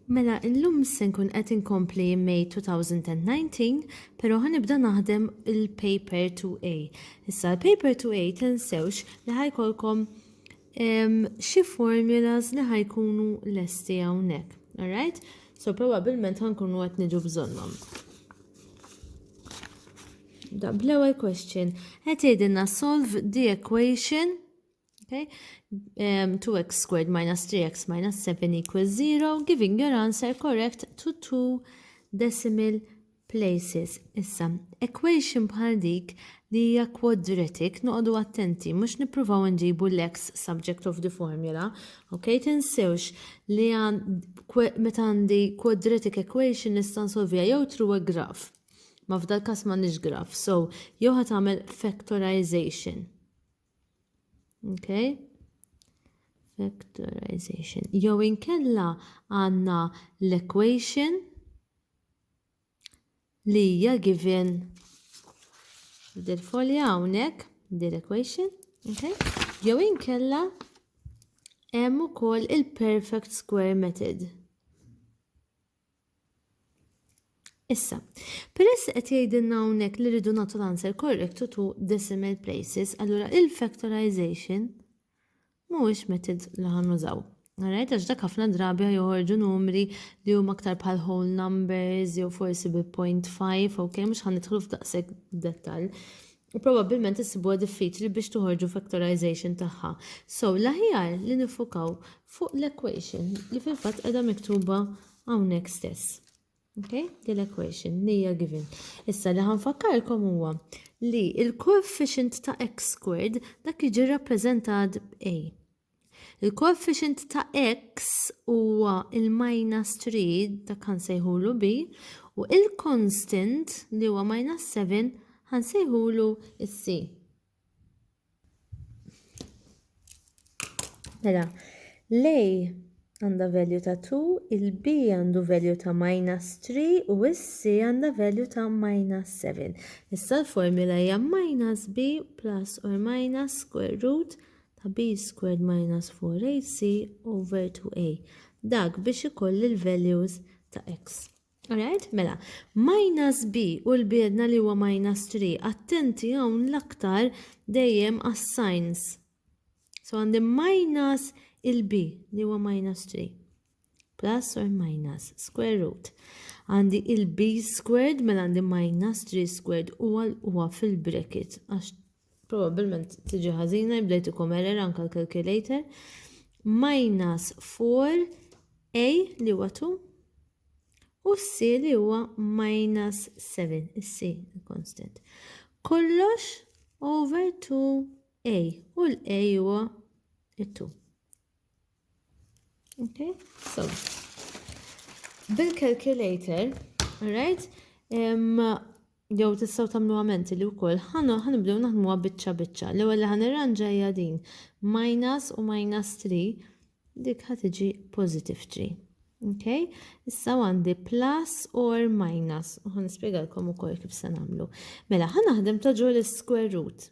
Mela, illum se nkun qed inkompli May 2019, però ħanibda naħdem il-paper 2A. Issa l-paper 2A tinsewx li ħajkolkom xi formulas li ħajkunu lesti hawnhekk. Alright? So probabbilment ħankunu qed niġu bżonnhom. Da bl-ewwel question. Qed jgħidilna solve the equation okay, um, 2x squared minus 3x minus 7 equals 0, giving your answer correct to two decimal places. Issa, equation bħal dik li hija quadratic noqogħdu attenti mhux nippruvaw nġibu l-x subject of the formula. Ok, tinsewx li meta għandi quadratic equation nista' nsolvija jew through a graph Ma f'dal kas m'għandniex graf, so jew ħat għamel factorization. Okay? Factorization. Jew inkella għandna l-equation li hija given dil folja hawnhekk, dil equation, okay? Jew inkella hemm ukoll il-perfect square method. Issa, peress li qed jgħidilna hawnhekk li rridu nagħtu l-answer correct to two decimal places, allura il-factorization mhuwiex method li ħan nużaw. Alright, għax dak ħafna drabi joħorġu numri li huma aktar bħal whole numbers jew forsi bi 0.5, ok, mhux ħan nidħlu f'daqshekk dettal. u probabbilment issibuha diffiċli biex toħorġu factorization tagħha. So, l-aħjar li nifukaw fuq l-equation li fil-fatt qiegħda miktuba hawnhekk stess. Okay? Din l-equation li hija given. Issa li ħanfakkarkom huwa li il-coefficient ta' x squared dak jiġi rappreżentat b'A. Il-koeffiċjent ta' x huwa il-minus 3 dak ħansejħulu b u il-constant li huwa minus 7 ħansejħulu c. Mela, l-a għandha value ta' 2, il-b għandu value ta' minus 3 u s-c għandha value ta' minus 7. Issa l-formula hija minus b plus or minus square root ta' b squared minus 4ac over 2a. Dak biex ikolli l-values ta' x. Alright, mela, minus b u l-biedna li huwa minus 3, attenti hawn l-aktar dejjem għas-signs. So għandi minus il-b li huwa minus 3. plus or minus square root. Għandi il-b squared mela għandi minus 3 squared u huwa fil-bracket għax probabbilment tiġi ħażina jibdejtukom error anka l-calculator minus 4a li huwa 2 u c li huwa minus 7 is-c constant. Kollox over 2a u l-a huwa 2. Okay, so bil-calculator, right? Jew tistgħu tagħmlu għamenti li wkoll ħana ħanibdew naħdmuha biċċa biċċa. L-ewwel li ħanirranġa hija din minus u minus 3 dik ħad tiġi positive 3. Okay? Issa għandi plus or minus. U ħan nispjegalkom ukoll kif se nagħmlu. Mela ħanaħdem ta' ġol square root.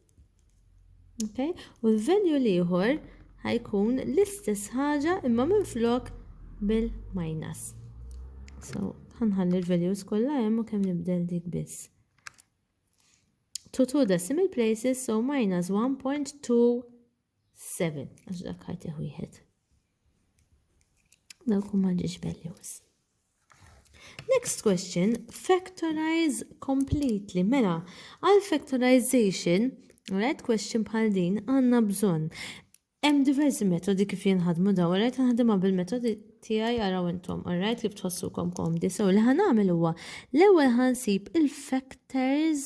Okay? U l-venue l-ieħor ħajkun l-istess ħaġa imma minn flok bil-minus. So, ħanħalli l-values kollha hemm u kemm nibdel dik biss. To two decimal places, so minus 1.27, għax dak ħajti wieħed. Dawk huma ġiex values. Next question, factorize completely. Mela, għal factorization, right question bħal din, għanna bżon. Hemm diversi metodi kif jinħadmu daw, right nħadimha bil-metodi tiegħi għaraw intom, right kif tħossukom komdi. So li ħanagħmel huwa l-ewwel ħansib il-factors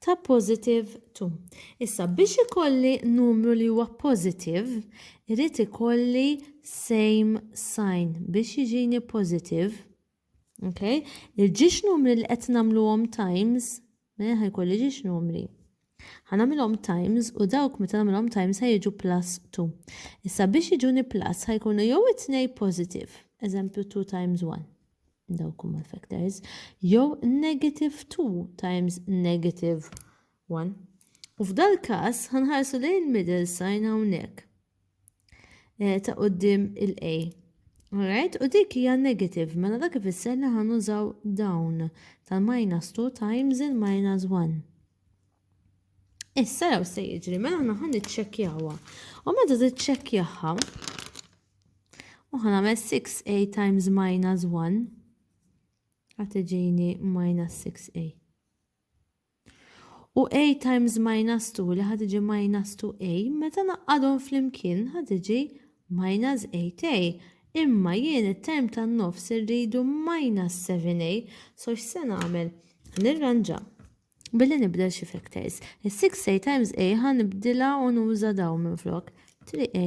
ta' positive 2. Issa biex ikolli numru li huwa positive, irrid ikolli same sign biex jiġini positive. Okay? Il-ġiex numri li qed nagħmluhom times, mela ħajkolli ġiex numri. Ħa nagħmilhom times u dawk meta nagħmilhom times ħa jiġu plus 2. Issa biex jiġuni plus ħa jkunu jew it-tnej positive, eżempju 2 times 1, dawk huma l-factors, jew negative 2 times negative 1. U f'dal-każ ħanħarsu lejn il-middle sign hawnhekk. eh, ta' qoddim il-A. Alright, u dik hija negative, mela dak ifisser li ħan użaw dawn tal-minus 2 times il-minus 1. Issa jew se jiġri, mela ħna ħan iċċekkjawha. U meta tiċċekkjawha, u ħan għamel 6a times minus 1, għatiġini minus 6a. U a times minus 2 li ħad iġi minus 2a, meta naqqadhom flimkien ħad iġi minus 8a. Imma jien it-term tan-nofs irridu minus 7a, so x'se nagħmel? Nirranġa billi nibdel xi factors. Is-6a times a ħa nibdilha u nuża dawn minflok. 3a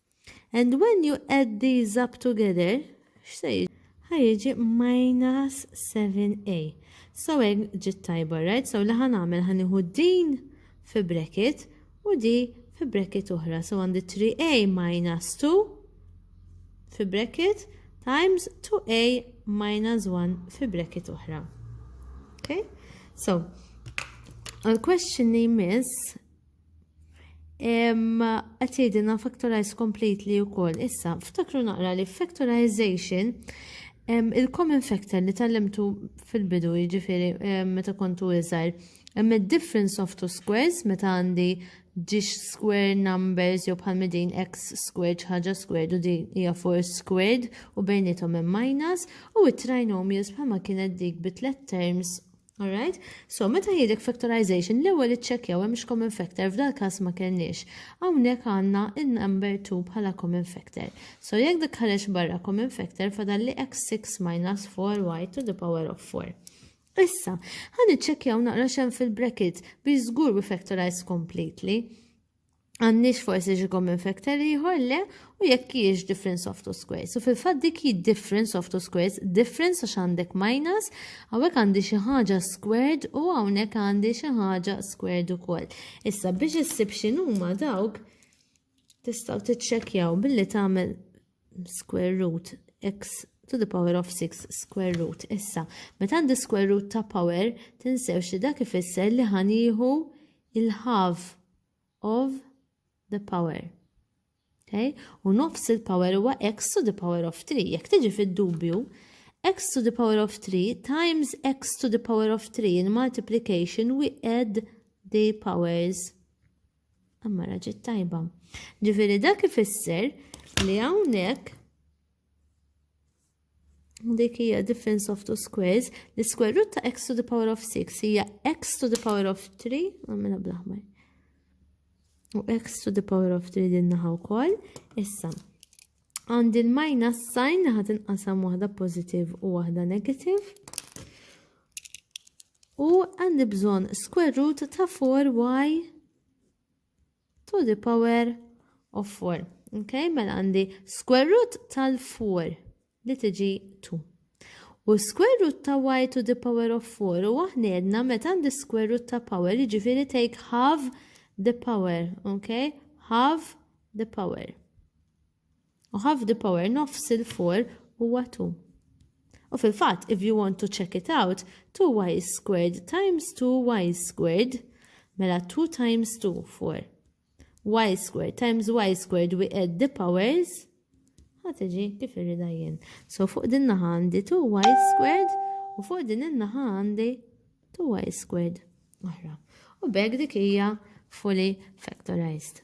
And when you add these up together, x'se jiġi? Ħajġi minus 7a. So hekk ġiet tajba, right? So li ħan għamel ħan iħu din fi bracket u di fi bracket oħra. So għandi 3a minus 2 fi bracket times 2a minus 1 fi bracket oħra. Okay? So, għal question li jmiss Qed jgħidilna factorize completely wkoll. Issa, ftakru naqra li factorization il-common factor li tallimtu fil-bidu jiġifieri meta kontu iżgħar. Hemm id-difference of two squares meta għandi ġiex square numbers jew bħal din x squared ħaġa squared u din hija four squared u bejnietom hemm minus u it-trinomials bħalma kienet dik bi tliet terms Alright? So, meta jidek factorization, l-ewwel iċċekkjaw hemmx common factor, f'dal każ ma kellniex. Hawnhekk għandna in-number 2 bħala common factor. So, jekk dik ħareġ barra common factor, fadal li x6 minus 4y to the power of 4. Issa, ħan iċċekkjaw naqra xem fil-bracket biex żgur we factorize completely. Għandniex forsi xi common factor ieħor le u jekk hiex difference of two squares. U fil-fatt dik hi difference of two squares, difference għax għandek minus, hawnhekk għandi xi ħaġa squared u hawnhekk għandi xi ħaġa squared ukoll. Issa biex issib x'inhuma dawk tistgħu tiċċekkjaw billi tagħmel square root x to the power of 6 square root. Issa, meta għandi square root ta' power, tinsewx li dak ifisser li ħanieħu il-half of the power. Okay? U nofs il-power huwa x to the power of 3. Jekk tiġi fid-dubju, x to the power of 3 times x to the power of 3 in multiplication we add the powers. Amma raġit tajba. Ġifiri dak ifisser li hawnhekk dik hija difference of two squares, the square root ta' x to the power of 6 hija x to the power of 3, għamilha blaħmar. U x to the power of 3 din naħa wkoll, issa. Għand il-minus sign naħa tinqasam waħda positive u waħda negative. U għandi bżonn square root ta' 4y to the power of 4. Ok, mela għandi square root tal-4 li tiġi 2. U square root ta' y to the power of 4 u aħna meta għandi square root ta' power jiġifieri take half the power, ok? Half the power. U half the power, nofs il-4, huwa 2. U fil-fatt, if you want to check it out, 2y squared times 2y squared, mela 2 times 2, 4. y squared times y squared, we add the powers, ħatiġi kif irrida jien. So fuq din naħa għandi 2y squared u fuq din in-naħa għandi 2y squared. Oħra. U beg dik hija fully factorized.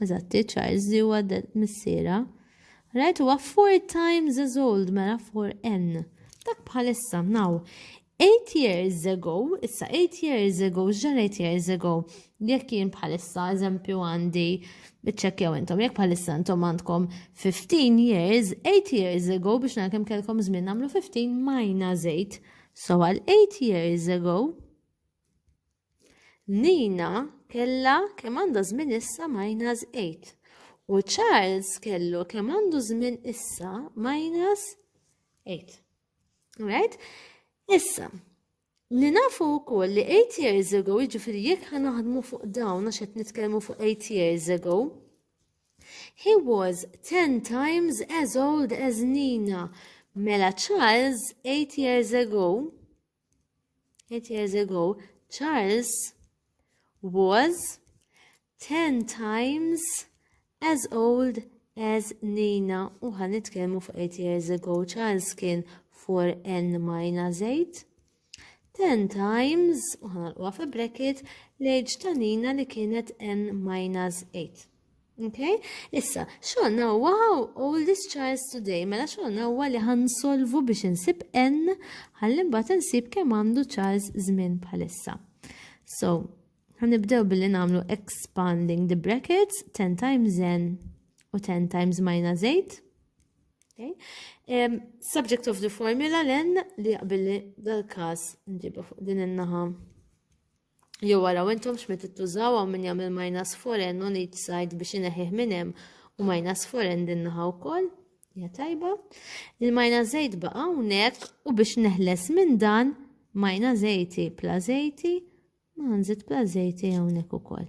Eżatti, Charles di huwa missiera. Right, huwa four times as old, mela four n. Dak bħalissa, now, eight years ago, issa eight years ago, xġan eight years ago, jekk jien bħalissa, eżempju għandi, bieċċekjaw intom, jekk bħalissa intom għandkom 15 years, 8 years ago, biex nakem kelkom zmin namlu 15 minus 8. So għal 8 years ago, Nina kellha kemm għandha żmien issa minus 8 u Charles kellu kemm għandu żmien issa minus 8. Right? Issa, li nafu wkoll li 8 years ago, jiġifieri jekk ħa naħdmu fuq dawn għax qed nitkellmu fuq 8 years ago, he was 10 times as old as Nina. Mela Charles 8 years ago Eight years ago, Charles was ten times as old as Nina. U ħan nitkellmu fuq eight years ago, Charles kien for n minus eight. Ten times, u ħan għalqwa fi bracket, l-age ta' Nina li kienet n minus eight. Okay? Issa, xogħolna huwa how old is Charles today? Mela xogħolna huwa li ħansolvu biex insib n ħalli mbagħad insib kemm għandu Charles żmien bħalissa. So, ħanibdew billi nagħmlu expanding the brackets 10 times n u 10 times minus 8. Okay? Um, subject of the formula l-n li billi dal-każ nġibu fuq din in-naħa Jew waraw intom x'med ittużaw hawn min jagħmel minus foreign on each side biex ineħħih minn hemm u minus foreign din naħa wkoll. Ja tajba. Il-minus 8 baqa' hawnhekk u biex neħles minn dan minus 80 plus 80 ma nżid plus 80 hawnhekk ukoll.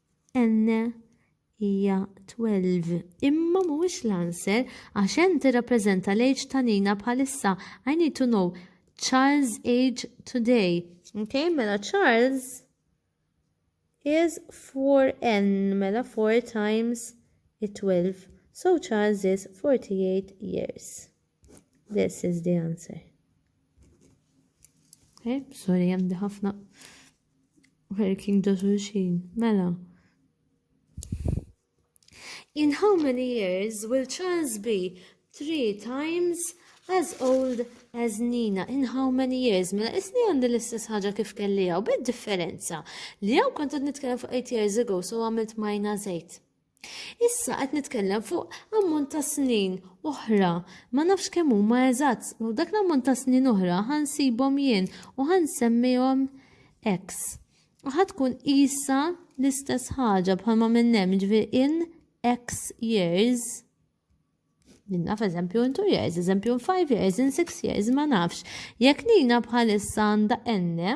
N hija 12. Imma mhuwiex l-answer għax N tirrappreżenta l-age ta' Nina bħalissa. I need to know Charles' age today. Okay, mela Charles is 4N, mela 4 times 12. So Charles is 48 years. This is the answer. Okay, sorry, għandi ħafna. Working ta' xulxin, mela. In how many years will Charles be three times as old as Nina? In how many years? Mela, isni għandi l-istess ħaġa kif kelli għaw, bid differenza. Li għaw kontet nitkellem fuq 8 years ago, so għamilt minus 8. Issa qed nitkellem fuq ammont ta' snin oħra. Ma nafx kemm huma eżatt, u dak l-ammont ta' snin oħra ħansibhom jien u ħansemmihom X. U ħatkun isa l-istess ħaġa bħalma minn hemm ġifier in X years. Minna f'eżempju in 2 years, eżempju in 5 years, in 6 years, ma nafx. Jekk nina bħalissa għandha enne,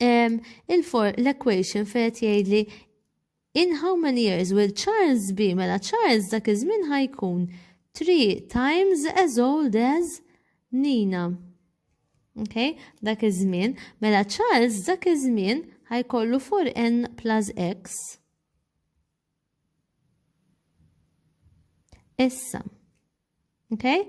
l-equation fejt jgħidli in how many years will Charles be mela Charles dak iż-żmien ħajkun 3 times as old as Nina. Ok, dak iż-żmien, mela Charles dak iż-żmien ħajkollu 4n plus x. Issa. Okay?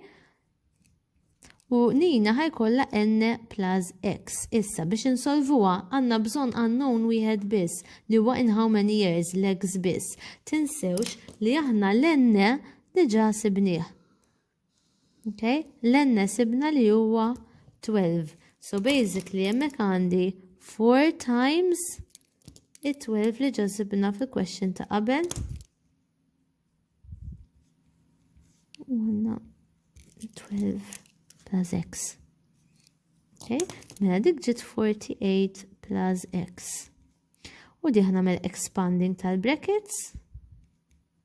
U nina ħajkolla n plus x. Issa biex insolvuha għandna bżonn unknown wieħed biss li huwa in how many years l-x biss. Tinsewx li aħna l-n diġà sibnieh. Okay? L-enne sibna li huwa 12. So basically jemmek għandi 4 times it-12 li ġazibna fi question ta' qabel. Għanna 12 plus x. Okay? Mela dik ġit 48 plus x. U diħna mel expanding tal-brackets.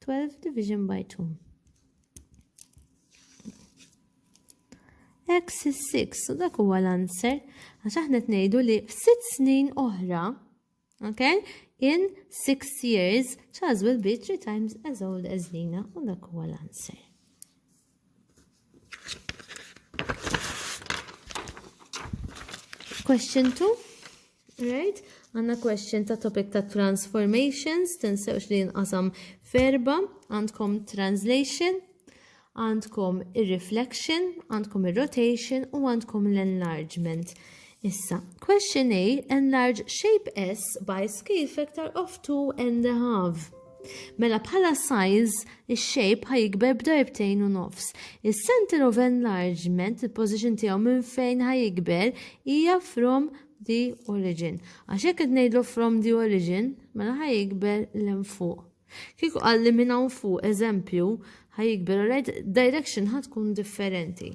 12 division by 2. X is 6, so dak huwa l-answer, għax aħna tnejdu li f'sitt snin oħra, okay, in six years, Charles will be three times as old as Lina, u dak huwa l-answer. Question 2. Right? Għanna question ta' topic ta' transformations, tinsewx li jinqasam ferba, għandkom translation, għandkom ir-reflection, għandkom ir-rotation u għandkom l-enlargement. Issa, question A, enlarge shape S by scale factor of 2 and a half. Mela bħala size, ix-shape ħa jikber b'darbtejn u nofs. Is-center of enlargement, il-position tiegħu minn fejn ħa jikber, hija from the origin. Għax hekk qed ngħidlu from the origin, mela ħa jikber l fuq. Kieku qalli minn hawn fuq, eżempju, ħa jikber, alright, direction ħa tkun differenti.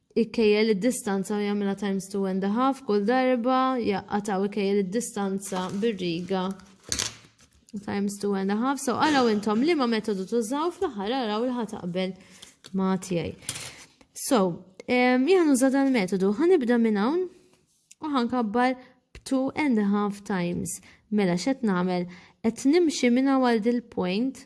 Ikejjel id-distanza u jagħmilha times two and a half kull darba, jaqataw ikejjel id-distanza bir-riga times two and a half. So araw intom li ma metodu tużaw fl-aħħar araw li ħataqbel ma' tiegħi. So, jgħan uża dal-metodu, ħanibda minn hawn u ħankabbar two and a half times. Mela xet namel, et nimxi minna għal dil-point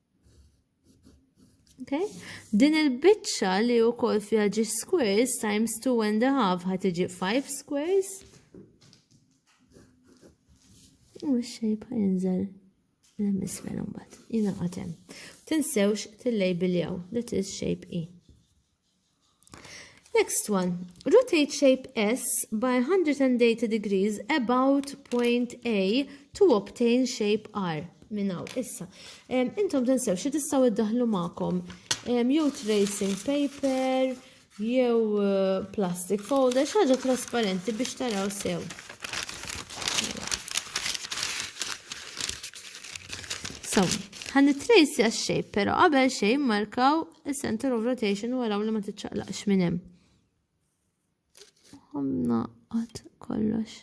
Okay? Din il-bicċa li u kol fija ġi squares times 2 and a half ħat iġi 5 squares. U xejba jinżel l-emisfer mbagħad. Jina għatem. Tinsewx tillejbiljaw. That is shape E. Next one, rotate shape S by 180 degrees about point A to obtain shape R. Minnaw, issa. Um, intom tensew, xie tistaw id-daħlu ma'kom? Um, jew tracing paper, jew uh, plastic folder, xaġa trasparenti biex taraw sew. So, ħan trace għax shape, pero qabel xejn markaw il-center of rotation u għaraw li ma tiċċaqlaqx minn hemm. Għamna għad kollox.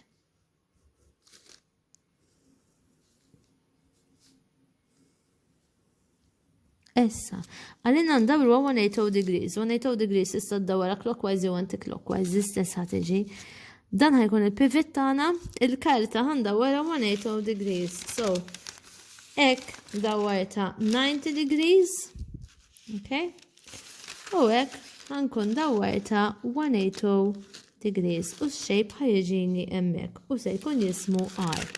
Essa, għalina ndawru 180 degrees, 180 degrees issa d-dawra clockwise jew anti-clockwise, l-istess ħateġi. Dan ħajkun il-pivot tagħna, il-karta għandha wara 180 degrees. So, Ek dawarta 90 degrees. Okay? U hekk ħankun dawwarta 180 degrees u x-shape ħajġini hemmhekk u se jkun jismu R.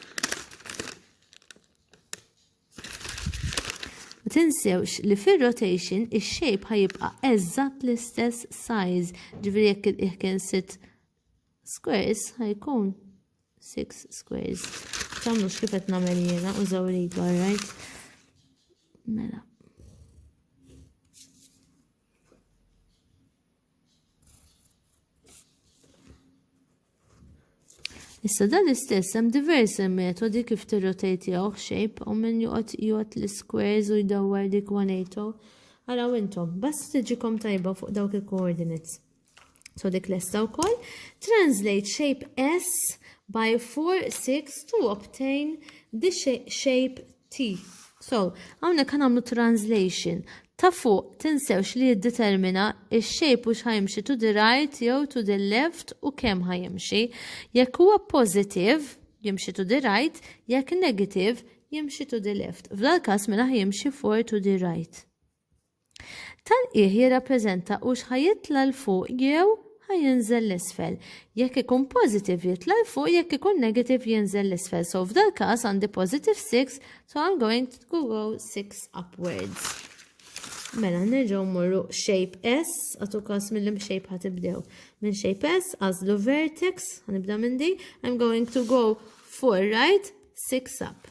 Ma tinsewx li fir-rotation ix-shape ħajibqa' eżatt l-istess size, ġifieri jekk il-qiegħ kien sitt squares ħajkun 6 squares. Tamlux kif qed nagħmel jiena u żawridu, alright? Mela. Issa dan l-istess hemm diversi metodi kif tirrotate jew shape u min joqgħod jgħod l-squares u jdawwar dik 180. Araw intom, bas tiġikom tajba fuq dawk il-coordinates. So dik lesta wkoll. Translate shape S by 4, 6 to obtain the shape T. So, għawnek għamlu translation. Ta' fuq tinsewx li jiddetermina il-shape u xħajmxi to the right jew to the left u kem ħajmxi. Jekk huwa positive, jimxi to the right, jekk negative, jimxi to the left. F'dal kas mela jimxi for to the right. Tal-qiegħ jirrappreżenta hux ħa jitla' 'l fuq jew ħa jinżel 'l isfel. Jekk ikun positive jitla' 'l fuq jekk ikun negative jinżel 'l isfel. So f'dal każ għandi positive 6 so I'm going to go 6 upwards. Mela nerġgħu mmorru shape S, għatu każ mill-lim shape ħa tibdew. Minn shape S għażlu vertex, ħanibda minn di, I'm going to go 4 right, 6 up.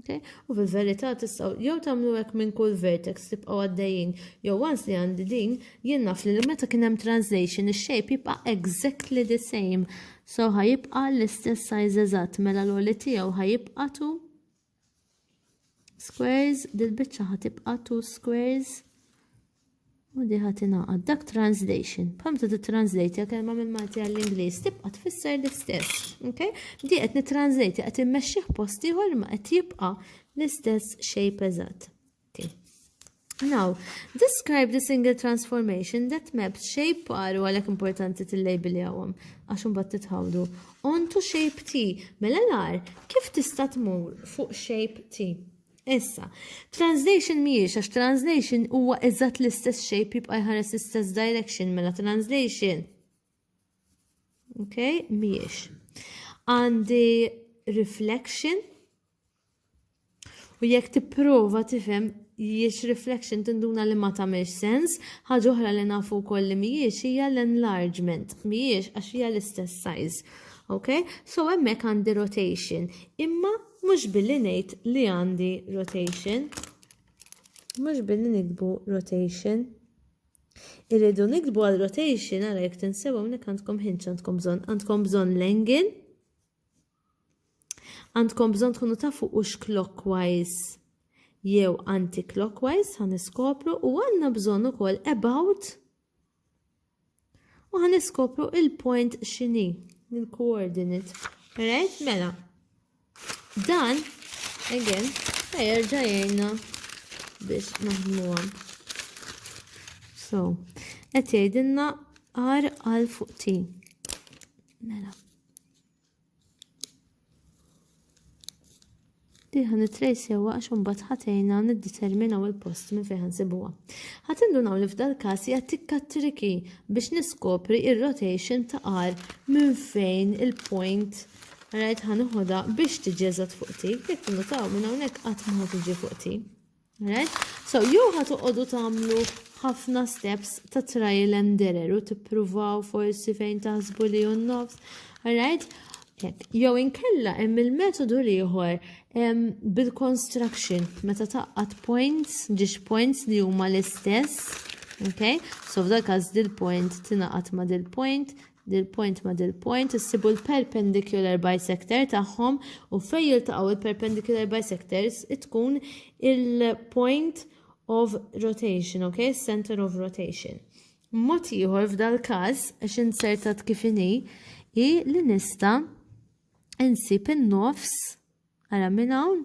Okay? U fil-verità tistgħu jew tagħmlu hekk minn kull vertex tibqgħu għaddejjin. Jew once li għandi din, jien naf li meta kien hemm translation ix-shape jibqa' exactly the same. So ħajibqa' l-istess size eżatt mela l-oli tiegħu ħajibqa' tu squares, dil-biċċa ħatibqa' tu squares. U di ħadd ingħaqad. Dak translation. Bħal tu titranslate kelma minn Malti għall-Ingliż tibqa' tfisser l-istess. Okay? Di qed nitranslate qed immexxih post ieħor ma qed jibqa' l-istess shape eżatt. Okay. Now, describe the single transformation that maps shape paru għalek importanti t-label jawam, għax bat titħawdu. On to shape T, mela l kif tista tmur fuq shape T? Issa, translation mhijiex għax translation huwa eżatt l-istess shape jibqa' jħares l-istess direction mela translation. Ok, mhijiex. Għandi reflection u jekk tipprova tifhem jiex reflection tinduna li ma tagħmilx sens, ħaġa oħra li nafu wkoll li mhijiex hija l-enlargement, mhijiex għax hija l-istess size. Ok, so hemmhekk għandi rotation. Imma Mhux billi ngħid li għandi rotation. Mhux billi nikbu rotation. Irridu nikbu għal rotation għara jek tinsew hawnhekk għandkom hinċ għandkom bżonn, għandkom bżonn l-engin. Għandkom bżonn tkunu tafu u clockwise jew anti-clockwise ħan iskopru u għandna bżonn ukoll about U ħan iskopru il-point xini, il-coordinate. Right? Mela. Dan, again, ħajerġa jgħinna biex naħdmuha. So, qed jgħidilna R għal fuq T. Mela. li ħan it-trejsewa għax imbagħad ħatejna niddeterminaw il-post minn fejn ħansibuha. Ħadd indunaw li f'dal każ hija tikka triki biex niskopri ir-rotation ta' R minn fejn il-point rajt ħanuħodha biex tiġi eżatt fuq ti, jekk innutaw minn hawnhekk qatt ma tiġi fuq ti. Right? So, jew ħat uqodu tamlu ħafna steps ta' trial and error u tippruvaw forsi fejn taħsbu li un nofs. Alright? Jew inkella hemm il-metodu ieħor bil-construction meta taqqat points, ġiex points li huma l-istess. Okay? So f'dak każ dil-point tingħaqad ma' dil-point, dil-point ma' dil-point, issibu l-perpendicular bisector tagħhom u fejn jiltaqgħu l-perpendicular bisectors tkun il-point of rotation, ok? Center of rotation. Mod ieħor f'dal-każ għax insertat kif inhi hi li nista' insib in-nofs ara minn hawn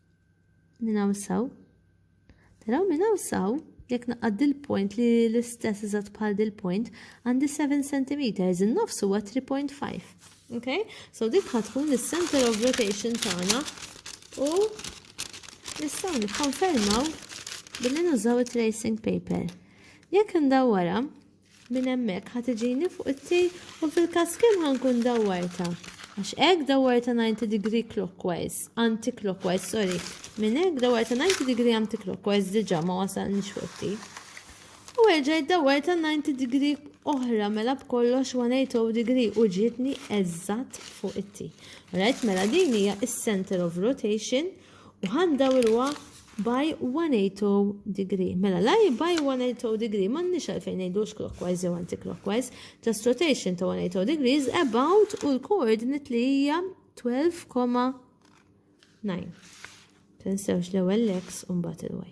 Minn hawn saw. Taraw minn hawn saw, jekk naqgħad dil-point li l-istess iżgħat bħal dil-point, għandi 7 cm, in-nofs huwa 3.5. Okay? So dik tkun is-center of rotation tagħna u nistgħu nikkonfermaw billi nużaw it-tracing paper. Jekk ndawwara, Minn hemmhekk ħa tiġini fuq it-tail u fil-każ kemm ħa nkun dawwartha? Għax hekk dawwartha 90 degree clockwise, anti-clockwise, sorry. Minn hekk dawwartha 90 degree anti-clockwise diġà ma wasalniex fuq it-tail. U erġajt dawwartha 90 degree oħra mela b'kollox 180 degree u ġietni eżatt fuq it-tail. Alright, mela din hija is-center of rotation U ħa ndawruha by 180 degree. Mela la hi by 180 degree m'għandniex għalfejn ngħidux clockwise jew anti-clockwise. Just rotation ta' 180 degrees about u l-coordinate li hija 12,9. Tinsewx l-ewwel l-x u mbagħad il-y.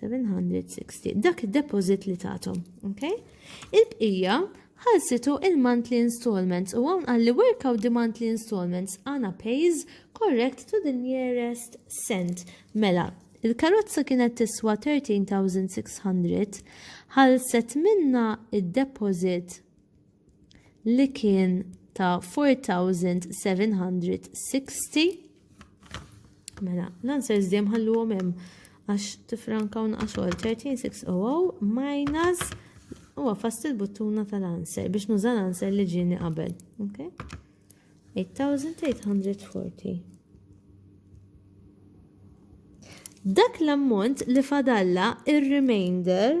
760. Dak id-deposit li tatom, ok? Il-bqija ħalsitu il-monthly installments u għawn għalli work out the monthly installments għana pays correct to the nearest cent. Mela, il-karozza kienet tiswa 13,600 ħalset minna id-deposit li kien ta' 4760 mela l-answers dejjem ħalluhom hemm għax tifrankaw naqas xogħol 13600 minus u għafast il-buttuna tal-answer biex nuża l-answer li ġini qabel. Okay? 8840. Dak l-ammont li fadalla il-remainder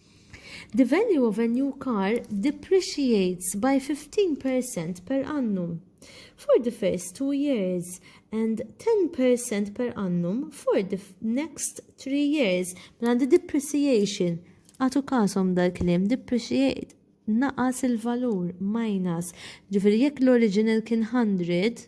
The value of a new car depreciates by 15% per annum for the first two years and 10% per annum for the next three years. Mela the depreciation, għatu kasom dal-klim, depreciate, naqas il-valur, minus. Ġifiri, jekk l-original kien 100,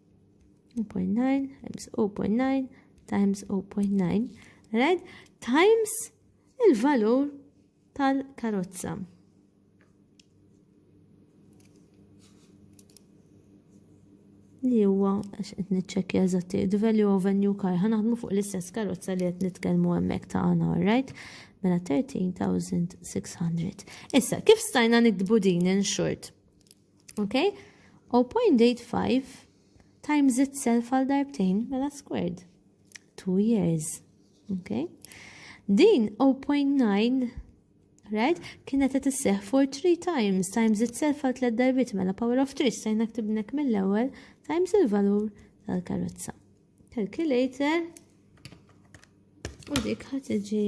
0.9 times 0.9 times 0.9, right? Times il-valur tal-karozza. Li huwa għax qed niċċekkja eżatt the value of a new car ħanaħdmu fuq l-istess karozza li qed nitkellmu hemmhekk ta' għana, right? Mela 13600. Issa, kif stajna nikdbu din in short? Okay? 0.85 times itself għal darbtejn mela squared. 2 years. Okay? Din 0.9 right? Kienet qed isseħ for 3 times times itself għal tliet darbit mela power of 3 stajna ktibnek mill-ewwel times il-valur tal-karozza. Calculator u dik ħad tiġi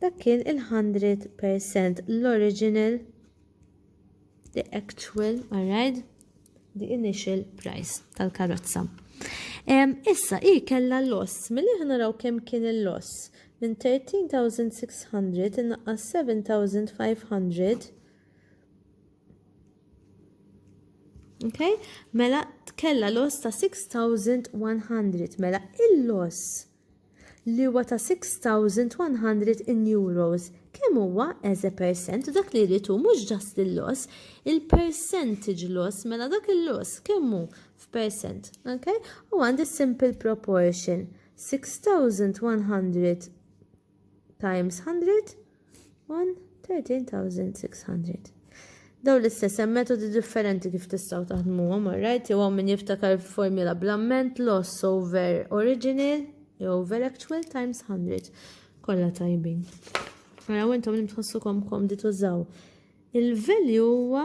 Dak kien il-hundred percent l-original, the actual, alright, the initial price tal-karozza. Issa, i kella loss, mill ħna naraw kem kien il-loss, minn 13,600 innaqqas 7,500, Okay? Mela kella loss ta' 6100. Mela il-loss li huwa ta' €6,100, kemm huwa as a percent u dak li jrid hu mhux just il-loss, il-percentage loss mela dak il-loss kemm hu f'percent, okay? U għandi simple proportion 6,100 times 100 1, 13600. Daw l-istess hemm metodi differenti kif tistgħu taħdmuhom, alright? Jew hawn min jiftakar formula bl-amment loss over original jew over actual times 100. Kollha tajbin. Mela intom li tħossukom komdi tużaw. Il-value huwa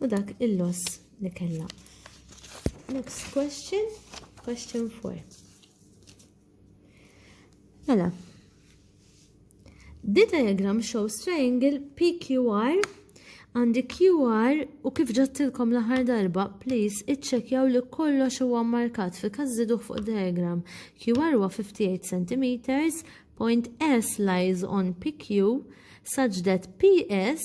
u dak il-loss li kellha. Next question, question 4. Mela, the diagram shows triangle PQR and QR u kif ġattilkom l-aħħar darba, please iċċekjaw li kollox huwa markat fi każ żiduh fuq diagram. QR huwa 58 cm, point S lies on PQ such that PS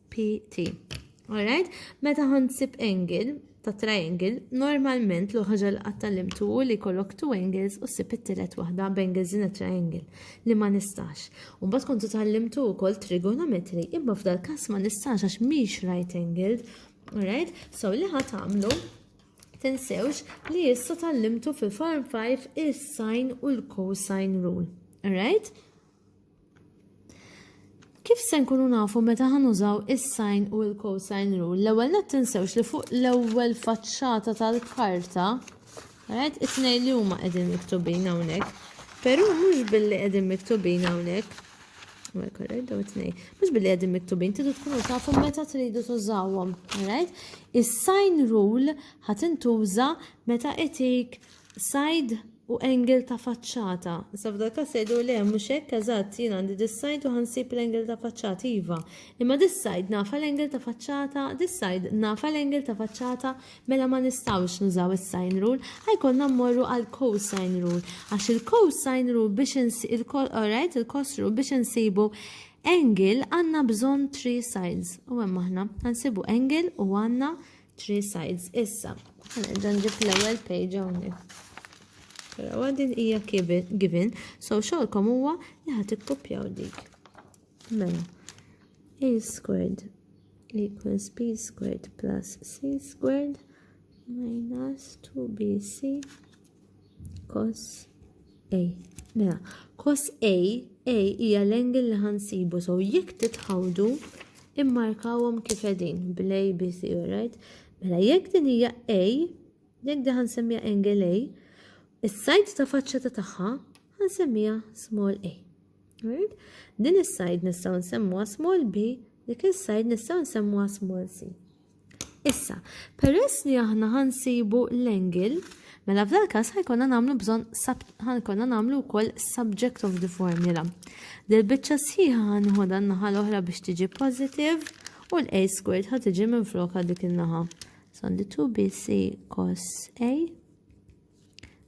PT. Alright? Meta ħansib angle ta' triangle, normalment l ħaġa li qatta limtu u li kollok two angles u sib it-tielet waħda b'angles in a triangle li ma nistax. Umbat kontu tal-limtu u koll trigonometri, imma f'dal kas ma nistax għax miex right angled. Alright? So li ħat għamlu, tinsewx li jissa tal-limtu fil-form 5 il-sine u l-cosine rule. Alright? Kif se nkunu nafu meta ħan użaw is-sine u l-cosine rule? L-ewwel net tinsewx li fuq l-ewwel faċċata tal-karta, għed it-tnej li huma qegħdin miktubin hawnhekk. Però mhux billi qegħdin miktubin hawnhekk. Well, correct, daw it-tnej. Mhux billi qegħdin miktubin, tidu tkunu tafu meta tridu tużawhom, right? Is-sine rule ħatintuża meta itik Sajd u angle ta' faċċata. Issa f'dal każ se jdur le mhux hekk eżatt jien għandi dis-sajd u ħansib l-angle ta' faċċata iva. Imma dis-sajd nafa l-angle ta' faċċata, dis-sajd nafa l-angle ta' faċċata mela ma nistgħux nużaw is-sine rule, ħajkollna mmorru għal cosine rule. Għax il-cosine rule biex insibu alright il-cos rule biex insibu angle għandna bżonn three sides. U hemm aħna ħansibu angle u għandna Three sides issa. Nerġa' nġib l-ewwel page hawnhekk. Però mela, din hija given, so xogħolkom huwa li ħadd ikkupjaw dik. Mela, a squared equals b squared plus c squared minus 2bc Kos A. Mela, kos A, A hija l-angle li ħansibu, so jekk titħawdu immarkawhom kif qegħdin bl-A, B, C, right? Mela, jekk din hija A, jekk din ħansemmija angle A, is-sajd ta' faċċa ta' tagħha ħansemmija small A. Right? Din is-sajd nistgħu nsemmuha small B, dik is-sajd nistgħu nsemmuha small C. Issa, peress li aħna ħansibu l-angle, mela f'dal każ ħajkonna nagħmlu bżonn ħajkonna nagħmlu wkoll subject of the formula. Del biċċa sħiħa ħanħodha n-naħa l-oħra biex tiġi positive u l-a squared ħad tiġi minn floka dik in-naħa. So għandi 2bc cos a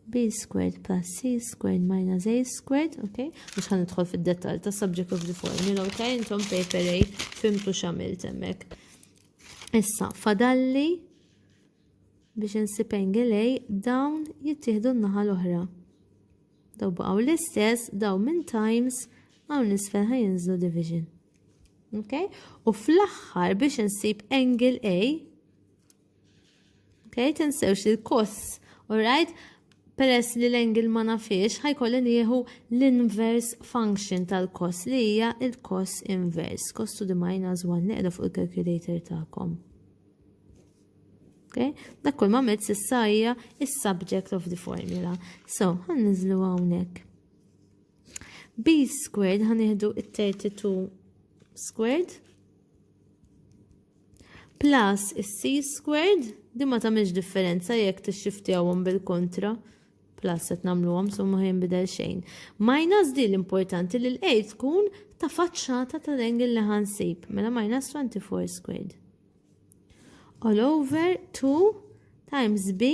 b squared plus c squared minus a squared, ok? Mux ħan idħol fil-dettal ta' subject of the formula, ok? Intom paper A fimtu xamil temmek. Issa, fadalli biex nsib angle A dawn jittieħdu n-naħa l-oħra. Daw baqgħu l-istess, daw minn times hawn nisfel ħajinżlu division. Ok? U fl-aħħar biex nsib angle A Okay, tinsewx li l-kos, alright, peress li l-engil ma nafiex, ħajkolli nieħu l-inverse function tal-kos li hija il-kos inverse. Kos to the minus 1 neqra fuq il-calculator tagħkom. Okay? Dak kull ma mezz issa hija is-subject of the formula. So, ħan niżlu hawnhekk. B squared ħan nieħdu it-32 squared Plus is-c squared, din ma tagħmilx differenza jekk tixxiftjawhom bil-kontra. Plus qed nagħmluhom so ma jinbidel xejn. Minus di l-importanti li l-a tkun ta' faċċata tal-angle li ħansib, mela minus 24 squared. All over 2 times b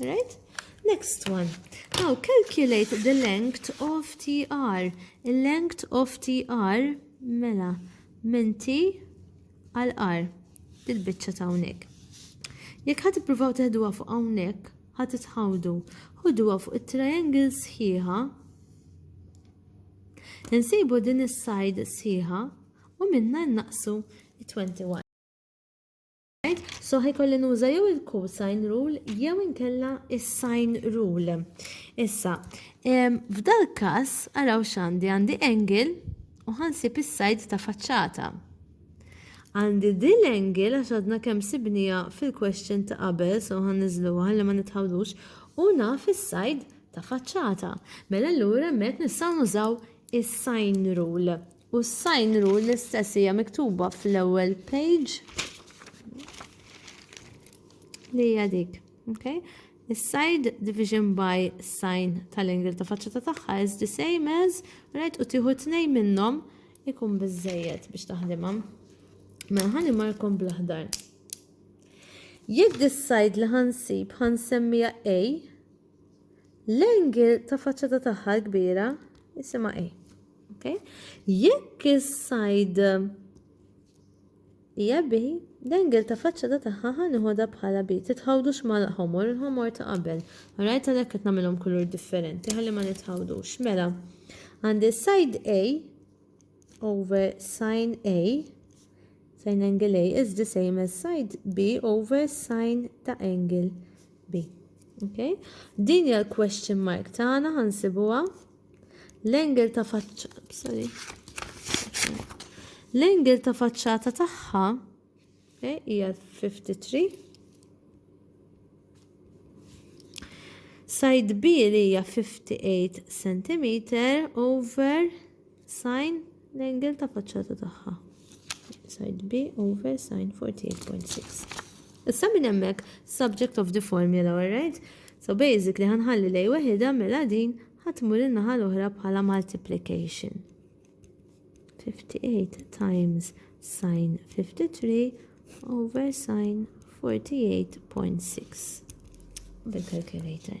Right? Next one. Now calculate the length of TR. Il-length of TR mela minn T għal R. Dil-bicċa ta' unek. Jek ħat provaw teħduwa fuq hawnhekk, ħat tħawdu. Ħuduwa fuq it-triangle sħiħa. Insibu din is-side sħiħa u minna naqsu 21. Right? So ħajkolli nuża jew il-cosine rule jew inkella is-sine rule. Issa, f'dal każ araw x'għandi għandi angle u ħansib is-sajd ta' faċċata. Għandi din l-angle għax għadna kemm sibnija fil-question ta' qabel, so għan nizluwa għalli ma nitħawdux, u naf is-sajd ta' faċċata. Mela l-ura met nistaw nużaw is-sign rule. U s-sign rule l-istess hija miktuba fl-ewwel page li hija dik. Okay? Is-side division by sign tal-angle ta' faċċata tagħha is the same as right u tieħu tnejn minnhom ikun biżejjed biex taħdimha. Mela ħalli markom bl-aħdar. Jekk dis-side li ħansib ħansemmija A, l-angle ta' faċċata tagħha l-kbira isimha A. Okay? Jekk is-sajd hija bi, l-engel ta' faċċata tagħha ħa nieħodha bħala bi. Titħawdux mal-ħomor, il-ħomor ta' qabel. Rajt għalhekk qed nagħmilhom kulur differenti ħalli ma nitħawdux. Mela, għandi sajd A over sin A sin angle A is the same as side B over sin ta' angle B. Okay? Din hija l-question mark tagħna ħansibuha. L-engel ta' L-engel ta' faċċata tagħha eh, hija 53. Side B li hija 58 cm over sine L-angle ta' faċċata tagħha. Side B over sin 48.6. Issa minn hemmhekk subject of the formula, alright? So basically ħanħalli lej weħida mela din ħatmur in-naħa l-oħra bħala multiplication. 58 times sin 53 over sin 48.6 bil-calculator.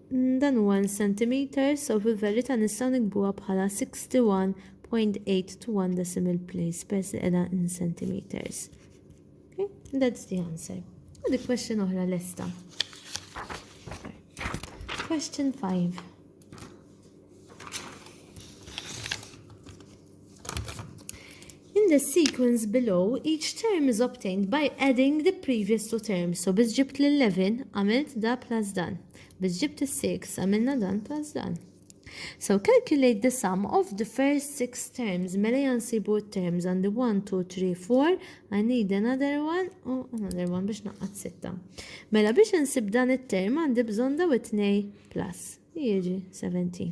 Dan huwa in centimeters, so fil-verità nistgħu nikbuha bħala 61.821 decimal place peress li qiegħda in centimeters. Okay? That's the answer. U di question oħra lesta. Question 5. In the sequence below, each term is obtained by adding the previous two terms. So biz ġibt l-11, għamilt da plus dan. Biz ġibt il-6, għamilna dan plus dan. So calculate the sum of the first six terms. Mela jansibu terms għandi 1, 2, 3, 4. I need another one u oh, another one biex naqqat sitta. Mela biex nsib dan it-term għandi bżon daw it-nej plus. Jieġi 17.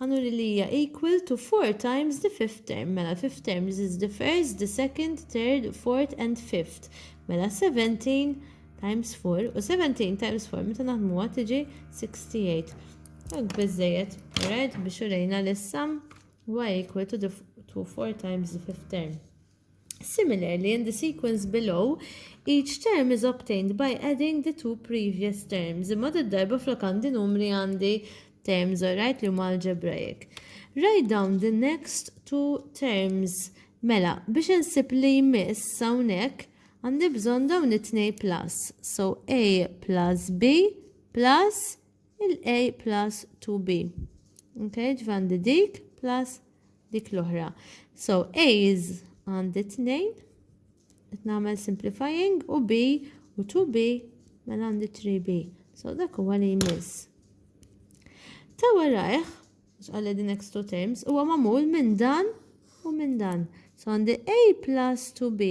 Annually li hija equal to four times the fifth term, mela l-fifth term this is the first, the second, third, fourth and fifth. Mela 17 times 4 u 17 times 4 meta naħdmuha tiġi 68. Għak biżejjed, right, biex urejna li s-sum y equal to, the, to 4 times the fifth term. Similarly, in the sequence below, each term is obtained by adding the two previous terms, imma did-darba flok għandi numri għandi terms, alright, li huma algebraic. Write down the next two terms. Mela, biex insib li jmiss hawnhekk għandi bżonn dawn it-tnej plus. So A plus B plus il-A plus 2B. Okay, ġvandi dik plus dik l-oħra. So, A is għandi 2, qed nagħmel simplifying u B u 2B mela għandi 3B. So, dak huwa li jmiss. Ta' warajh, xqalle din next two terms, huwa magħmul minn dan u minn dan. So, għandi A plus 2B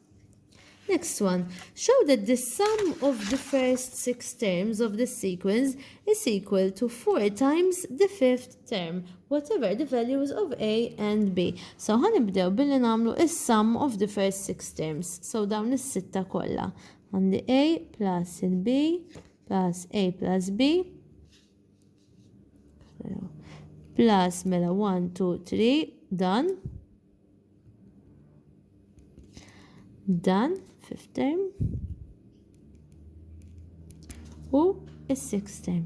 Next one. Show that the sum of the first six terms of this sequence is equal to 4 times the fifth term, whatever the values of A and B. So ħanibdew billi namlu is sum of the first six terms. So dawn is-sitta kollha. Għandi A plus il-B plus A plus B plus mela 1, 2, 3 dan. Dan fifth term u is-sixth term.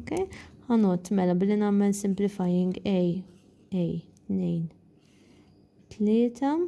Okay? Għanot mela billi nagħmel simplifying A, A, 2, 3,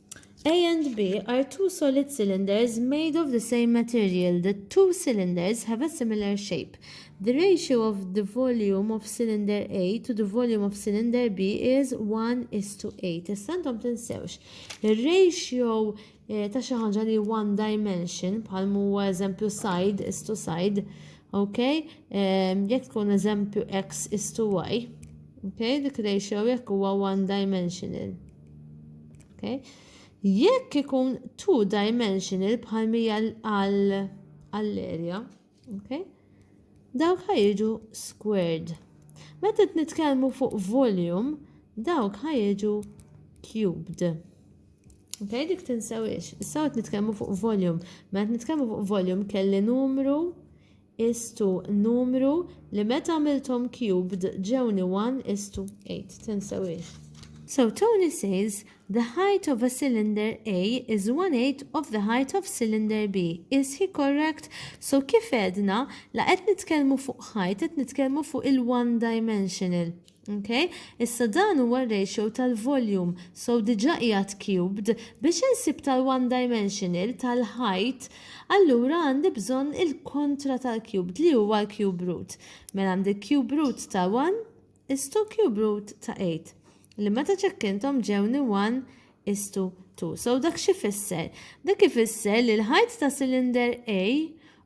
A and B are two solid cylinders made of the same material. The two cylinders have a similar shape. The ratio of the volume of cylinder A to the volume of cylinder B is 1 is to 8. Issa intom tinsewx, il-ratio eh, ta' xi ħaġa li one dimension, bħal huwa eżempju side is to side, ok? Eh, jekk tkun eżempju x is to y, ok? Dik ratio jekk huwa one dimensional. Okay? Jekk ikun two dimensional bħal mija għall-area, okay? dawk ħajġu squared. Meta nitkellmu fuq volume, dawk ħajġu cubed. Okay, dik tinsewix. Issa qed nitkellmu fuq volume. Meta nitkellmu fuq volume kelli numru istu numru li meta għamilthom cubed ġewni one istu eight. Tinsewhiex. So Tony says the height of a cylinder A is one eighth of the height of cylinder B. Is he correct? So kif għedna, la qed nitkellmu fuq height qed nitkellmu fuq il-one dimensional. Okay? Issa dan huwa r-ratio tal-volume, so diġà qiegħed cubed, biex insib tal-one dimensional, tal-height, allura għandi bżonn il-kontra tal-cubed li huwa l-cube root. Mela għandi cube root ta' 1 is to cube root ta' 8 li meta ċekkinthom ġewni 1 is to 2. So dak xi fisser? Dak ifisser li l-ħajt ta' cylinder A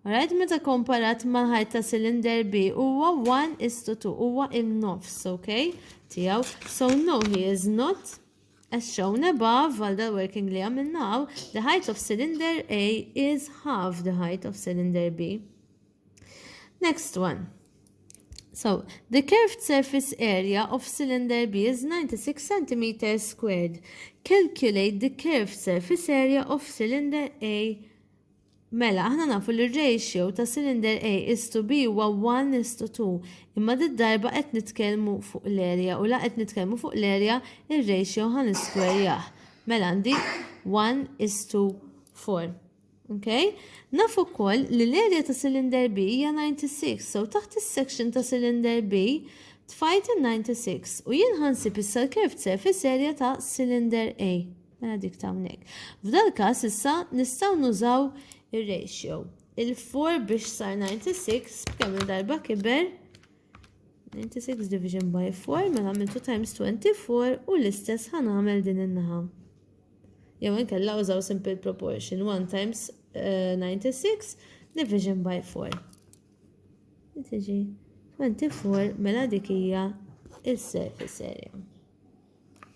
Alright, meta komparat ma' ħajt ta' cylinder B huwa 1 is to 2, huwa in-nofs, ok? Tijaw. So no, he is not as shown above għal the working li għamilnaw, the height of cylinder A is half the height of cylinder B. Next one. So, the curved surface area of cylinder B is 96 cm squared. Calculate the curved surface area of cylinder A. Mela, aħna nafu li ratio ta' cylinder A is to B huwa 1 is to 2. Imma d darba qed nitkellmu fuq l-area u la qed nitkellmu fuq l-area ir-ratio ħan isquare jah. Mela għandi 1 is to 4. Okay? Naf ukoll li l-area ta' cylinder B hija 96, so taħt is-section ta' cylinder B tfajt il-96 u jien ħansib issa l-curved surface area ta' cylinder A. Mela dik ta' hawnhekk. F'dal każ issa nistgħu nużaw ir-ratio. Il-4 biex sar 96 kemm darba kiber 96 division by 4 mela għamiltu times 24 u l-istess ħanamel din in-naħa. jew inkella użaw simple proportion 1 times uh, 96 division by 4. Tiġi 24 mela dik hija il-surface area.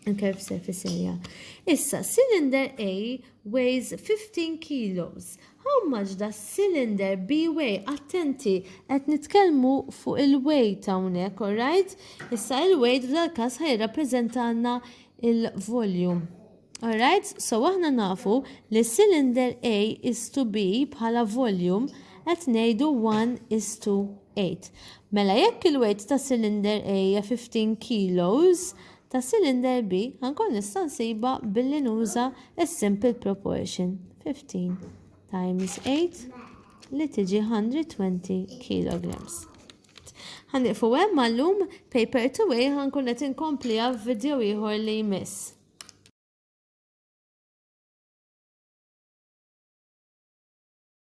Il-curve surface area. Issa, cylinder A weighs 15 kilos. How much does cylinder B weigh? Attenti, qed nitkellmu fuq il-weight hawnhekk, alright? Issa il-weight f'dal każ ħaj rappreżentanna il-volume. Alright, so aħna nafu li cylinder A is to B bħala volume qed ngħidu 1 is to 8. Mela jekk il-weight ta' cylinder A hija 15 kilos, ta' cylinder B ħankun nista' nsiba billi nuża s-simple proportion 15 times 8 li tiġi 120 kilograms. Ħa nieqfu hemm għallum paper to way ħa nkun qed inkompliha f'video ieħor li jmiss.